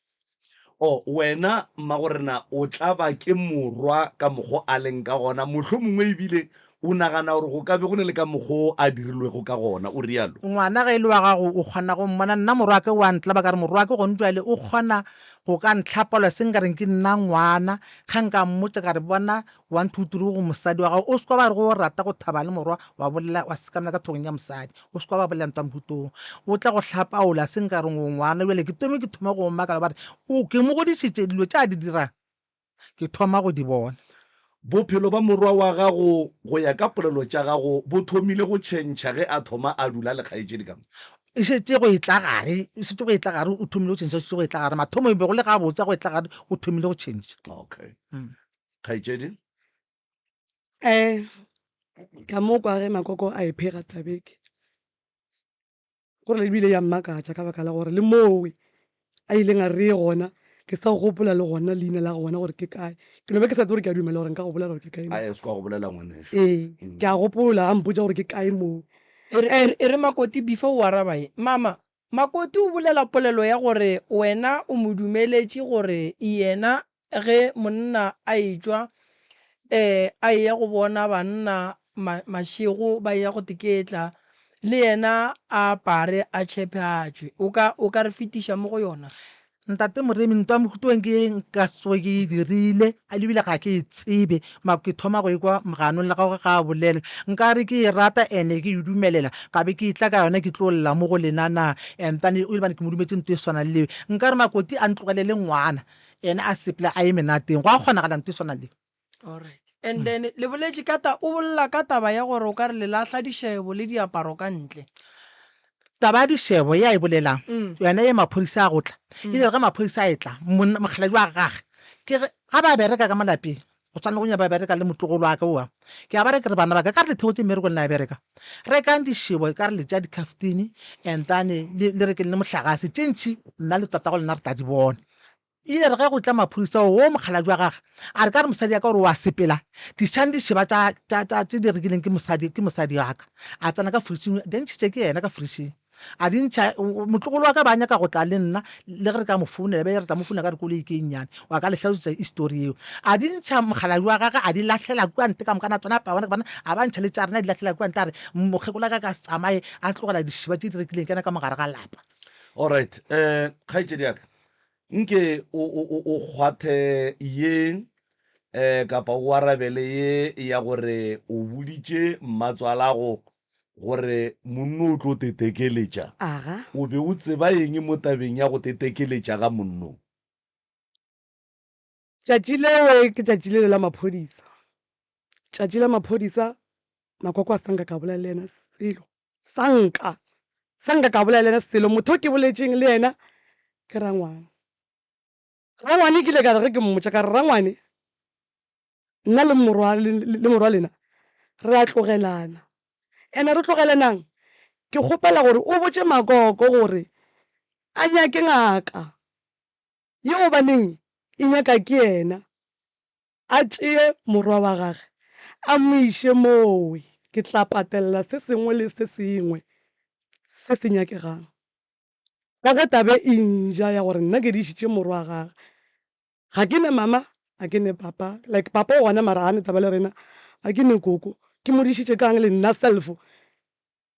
Speaker 1: O, wena, mmagorena, o tla ba ke morwa ka mokgwa o a leng ka gona, mohlomongwe e bile o nagana gore go ka be go na le ka mokgwa o a dirilwego ka gona, o realo. Ngwana, ge e le wa gago, o kgona go mmona. Nna morwake o a ntlaba, ka re, Morwake, gone bjale o kgona go ka ntlhapolosa, e se nka reng ke nna ngwana. Ge nka mmotša ka re, Bona, One two three go mosadi wa gago o seka ba re go o rata go thaba le morwa wa bolela wa sekamela ka thogong ya mosadi o seka ba bolela ntwa mohutong o tla go hlapaola se nka reng o ngwana bjale ke tome ke thoma go makala ba re o ke mo godišitše dilo tša di dirang ke thoma go di bona. Bophelo ba morwa wa gago go ya ka polelo tša gago bo thomile go tšhentšha ge a thoma a dula le kgaetšedi ka mo? E šetše go e tla gare e šetše go e tla gare o thomile go tšhentšha o šetše go e tla gare mathomo e be go le gabotse a go e tla gare o thomile go tšhentšha. Okay. kgaetšedi um ka mo kwa ge makoko a e phega tabeke gore ebile ya mmakatša ka baka la gore le mowe a ileng a re gona ke sa gopola le gona leina la gona gore ke kae ke no be ke sa tse gore ke a dumela gore nka go bolela gore ke kae a se kwa go bolela ngwaneso ee mm. ke a gopola a mpotsa gore ke kae moo e re makoti before o araba ye mama Makoti o bolela polelo ya gore wena o mo dumeletše gore yena ge monna a etšwa ee a eya go bona banna mašego ba eya go teketla, le yena a apare a tšhephe a tšwe. O ka, o ka re fetiša mo go yona? Ntate Moremi, ntwa Mokhutlong ke ye nka se tsoge ke e dirile, ebile ga ke e tsebe, mara ke thoma go e kwa moganong le gagwe ga a bolela. Nka re ke e rata and-e ke e dumelela, ka be ke e tla ka yona ke tlo lla mo go lena na? And then o ile bane ke mo dumetse ntwa e swana le eo. Nka re Makoti a ntlogelele ngwana, ene a sepele a ye menateng. Gwa kgonagala ntwa e swana le eo? Alright. And hmm. then le boletše ka ta o bolela ka taba ya gore o ka re le lahla dishebo le diaparo ka ntle. Taba ya dishebo ya e bolelang hmm. yona ye maphodisa a gotla. Hmm. Ile ga maphodisa a etla mokgaladi wa gage. Ke ga ba bereka ka malapeng go tshwana go nya ba bereka le motlogolo wa ka oa ke a ba re ke re bana ba ka ka re lethego tse mmereko le na bereka re kang dishebo ka re le tša dicaftini and then le re ke le mohlagase tše ntšhi nna le tatago lena re tla di bona E ile ya re ge go tla maphodisa woo mokgalabje wa gage a re ka re mosadi ya ka gore o a sepela dišang di šeba tša tša tša tše di rekileng ke mosadi ke mosadi wa ka a tsena ka fridging di ntšhitše ke yena ka fridging a di ntšha motlogolo wa ka ba nyaka go tla le nna le ge re ka mo founela be re tla mo founela ka re koloi ke nnyane wa ka le hlalosetsa history yeo a di ntšha mokgalabje wa gage a di lahlela kua nte ka mokana tsona paone bana a ba ntšha le tša rena di lahlela kua nte a re mokgekola ka ka se tsamaye a tlogela dišiba tše di rekileng kena ka mogare ga lapa Alright um kgaetšedi ya ka Nke o, o, o, o kgwathe ye, e, kapa o arabele ye ya gore o boditše mmatswalago gore monno o tlo tetekeletša. Aga. O be o tseba eng mo tabeng ya go tetekeletša ga monno? Tšatši leo ke tšatši lele la maphodisa, tšatši la maphodisa. Makoko a sa nka ka bolela le yena selo, sa nka, sa nka ka bolela le yena selo. Motho o ke boletšeng le yena ke Rangwane. Rangwane ke ile ka re ge ke mmotša ka re, Rangwane, nna le morwa, le morwa lena re a tlogelana. Ene re tlogelanang? Ke kgopela gore o botše Makoko gore a nyake ngaka. Ye gobaneng e nyaka ke yena a tšee morwa wa gage a mo iše mooe. Ke tla patelela se sengwe le se sengwe se se nyakegang. Ka ge tabe e nja ya gore nna ke dišitše morwa wa gage, ga ke ne mama, ga ke ne papa, like papa o gona mara ga ne taba le rena, ga ke ne koko, ke mo dišitše ka'ng le nna self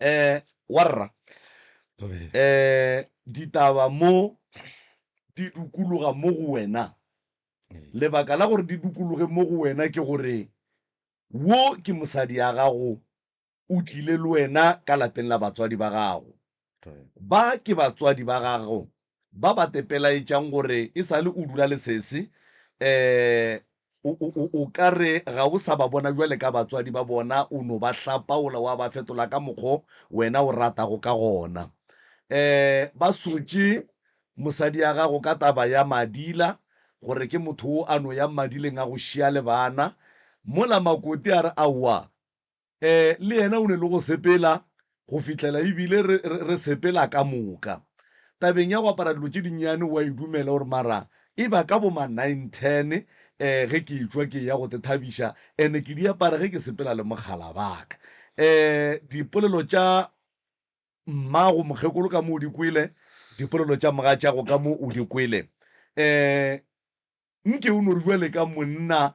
Speaker 1: Ee, warra. Ee, ditaba mo di dukologa mo go wena. Lebaka la gore di dukologe mo go wena ke gore wo ke mosadi ya gago, o tlile le wena ka lapeng la batswadi ba gago. Ba ke batswadi ba gago ba ba te pelaetšang gore e sa le o dula le sese, um o, o, o, o ka re ga o sa ba bona bjale ka batswadi ba bona, o no ba hlapaola wa ba fetola ka mokgo wena o ratago ka gona. Um ba sotše mosadi ya gago ka taba ya Madila, gore ke motho wo a no yang Madileng a go šia le bana. Mola Makoti a re, Aowa, le yena o ne le go sepela go fihlela e bile re, re, re sepela ka moka. Tabeng ya go apara dilo tše dinnyane o a e dumela gore mara e ba ka bo ma nine ten um ge ke etšwa ke eya go te thabiša and ke di apara ge ke sepela le mokgala ba ka. Um dipolelo tša mmago mokgekolo ka mo o di kwele, dipolelo tša mogatšago ka mo o di kwele. Um Nke o no re bjale ka monna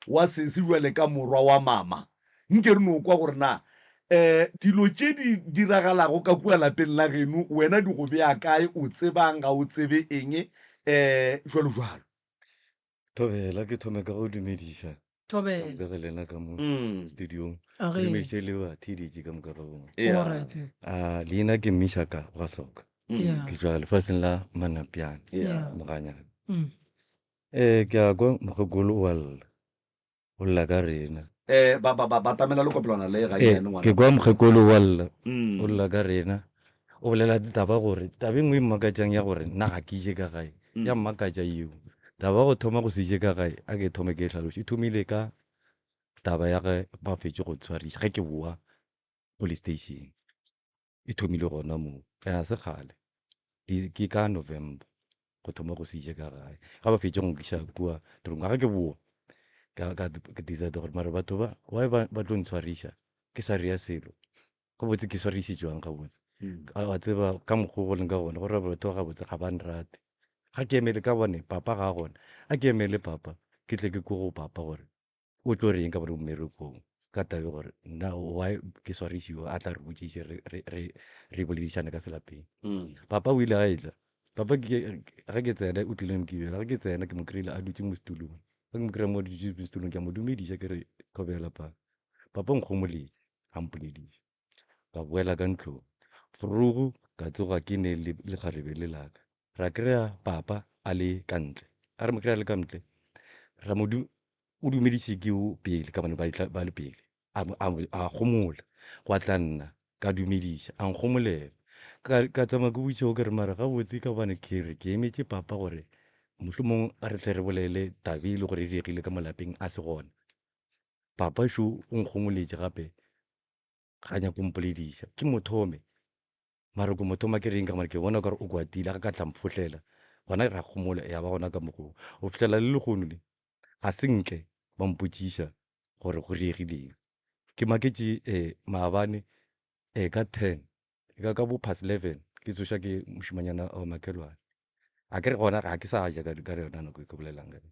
Speaker 1: wa sesi, bjale ka morwa wa mama, nke re no kwa gore na eh, dilo tše di diragalago ka kua lapeng la geno wena di go bea kae, o tseba'ng, ga o tsebe eng, eh, bjalo bjalo. Thobela, ke thome ka go dumediša. thobela bega lena ka mo Mm. studiong a re ge dumediše le ba theditše ka moka ga bona Yeah. alright a leina ke mishaka wa soka Mm. yeah ke tswa lefaseng la manapiana Yeah. moganyana mm. um ke a kwa mokgekolo o a lla o lla ka rena Eh, ba- ba- ba- batamela lekopelwana le ga Eh, yane ngwana. ke kwa mokgekolo o a lla Mm. o lla ka rena O bolela taba gore taba e nngwe e mmakatšang ya gore nna ga ke je ka gae ya mmakatša yeo. Taba ya go thoma go se je ka gae a ke thome ke e hlaloše e thomile ka taba ya ge ba fetše go ntshwariša ge ke bowa police station. E thomile gona moo and ga se kgale ke ka November go thoma go se je ka gae ge ba fetše go nkiša kua tronka ge ke bowa ka decide gore mare batho ba why ba tlo ntshwariša ke sa reya selo gabotse ke swarišitšwang gabotse a tseba ka mokgwa go leng ka gona gore batho ba gabotse ga ba nrate ga ke emele ka bone papa ga gona a ke emele papa ke tle ke ko go papa gore o tlo reng ka gore o mmerekong ka tabe gore na why ke swarišiwa a tla re botšiše re boledišane ka selapeng mm. papa o ile a etla papa ga ke tsena o tlileng kebela ga ke tsena ke mo kry-ile a dutse mo setulong ga ke mo kry-a mo dutse mo setulong ke a mo dumediša ke re thobela papa papa nkgomoledi a mpolediša. Ka boela ka ntlong. Vroeg ka tsoga ke ne le lekgarebe le la ka. Ra kry-a Papa a le ka ntle. A re mo kry-a le ka ntle, ra mo du, o dumediše ke o pele ka bane ba, tla, ba le pele. A, a, a gomola. Gwa tla nna, ka dumediša, a nkgomolela. Ka, ka tsamaya ke botšiša o ke re, Mara gabotse ka gobane ke re ke emetše Papa gore mohlomong a re tle re bolele taba e le gore e diregile ka mo lapeng a se gona. Papa šo o nkgongoletše gape, ga nyake go mpolediša. Ke mo thome. Mara ke mo thoma ke reng ka gobane ke bona o ka re o kwatile, a ka ka tla mphohlela. Gona ra kgomola ya ba gona ka mokgwa wo. Go fihlela le lehono le, ga se nke ba mpotšiša gore go diegileng. Ke maketše um maabane um ka ten, e ka ka bo past leven ke tsošwa ke mošemanyana wa makhelwane. A ke re gona ga ke sa ja ka yona nako e ke bolelang ka yona.